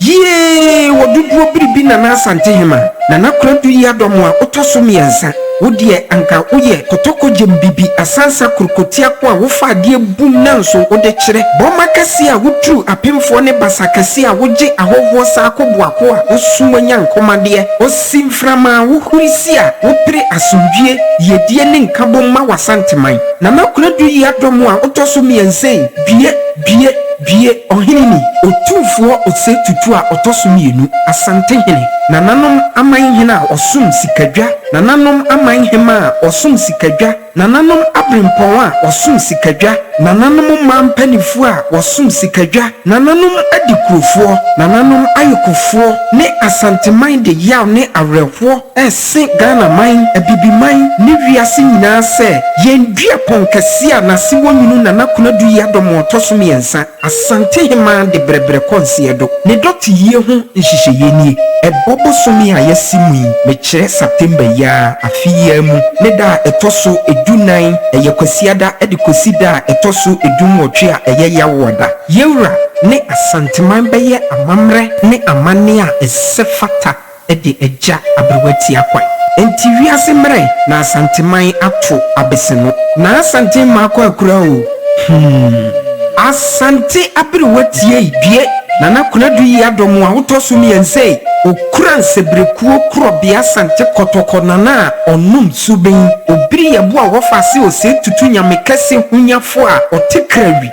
Yie wɔ dodoɔ biribi Nana Asantehema, Nana Kwaradu Yiadoamoa wotɔso mmiɛnsa, wodeɛ anka woyɛ kɔtɔkɔ gyem bibi asansa kurukotiako a wofa adeɛ bum nanso wode kyerɛ, bɔmma kɛseɛ a woturu apemfoɔ ne basa kɛseɛ a wogye ahɔhoɔ saa koboako a wosum anyankomadeɛ, osi mframa a wohuri si a wopere asomdwie, yiedie ne nkabom ma w'Asanteman. Nana Kwaradu Yiadoamoa wotɔso mmiɛnsa ei, due. Bue, bue, ɔhene ni, Otumfoɔ Osei Tutu a ɔtɔ so mmienu, Asantehene, Nananom amanhene a wɔsom sikadwa, Nananom amanhemma a wɔsom sikadwa, Nananom aberempɔn a wɔsom sikadwa, Nananom mmaa mpanimfoɔ a wɔsom sikadwa, Nananom adikurofoɔ, Nananom ayokofoɔ ne Asanteman de yaw ne awerɛhoɔ ɛse Ghana man, Abibiman ne wiase nyinaa sɛ yɛn dua pɔn kɛseɛ a n'ase wɔ nwunu Nana Konadu yi adɔ ma ɔtɔ so mmiɛnsa, Asante Hemaa de brɛbrɛ kɔ nseɛdo. Ne dɔteyie ho nhyehyɛeɛ nie, ɛbɔ bosome a yɛase mu yi, mekyerɛ September yi ara, afe yi ara mu, ne da a ɛtɔ so du nan, ɛyɛ Kwasiada, de kɔsi da a ɛtɔ so du nwɔtwe a ɛyɛ Yawoada. Yawura ne Asanteman bɛyɛ amammerɛ ne amanneɛ a ɛsɛ fata. de agya aberewa tia kwan. Enti wiase mmerɛ na Asanteman ato abese no. Na Asante mma akɔ akura o, hmm. Asante aberewa tiei due. Nana Konadu yi adɔ mo a wotɔ so mmiɛnsa ei. Okura nsebirekuo korɔbea Asante kɔtɔkɔ Nana a ɔnom suben. Obiri yɛboa a wɔfa ase ose tutu Nyame kɛse honyafoɔ a ɔte kra wi.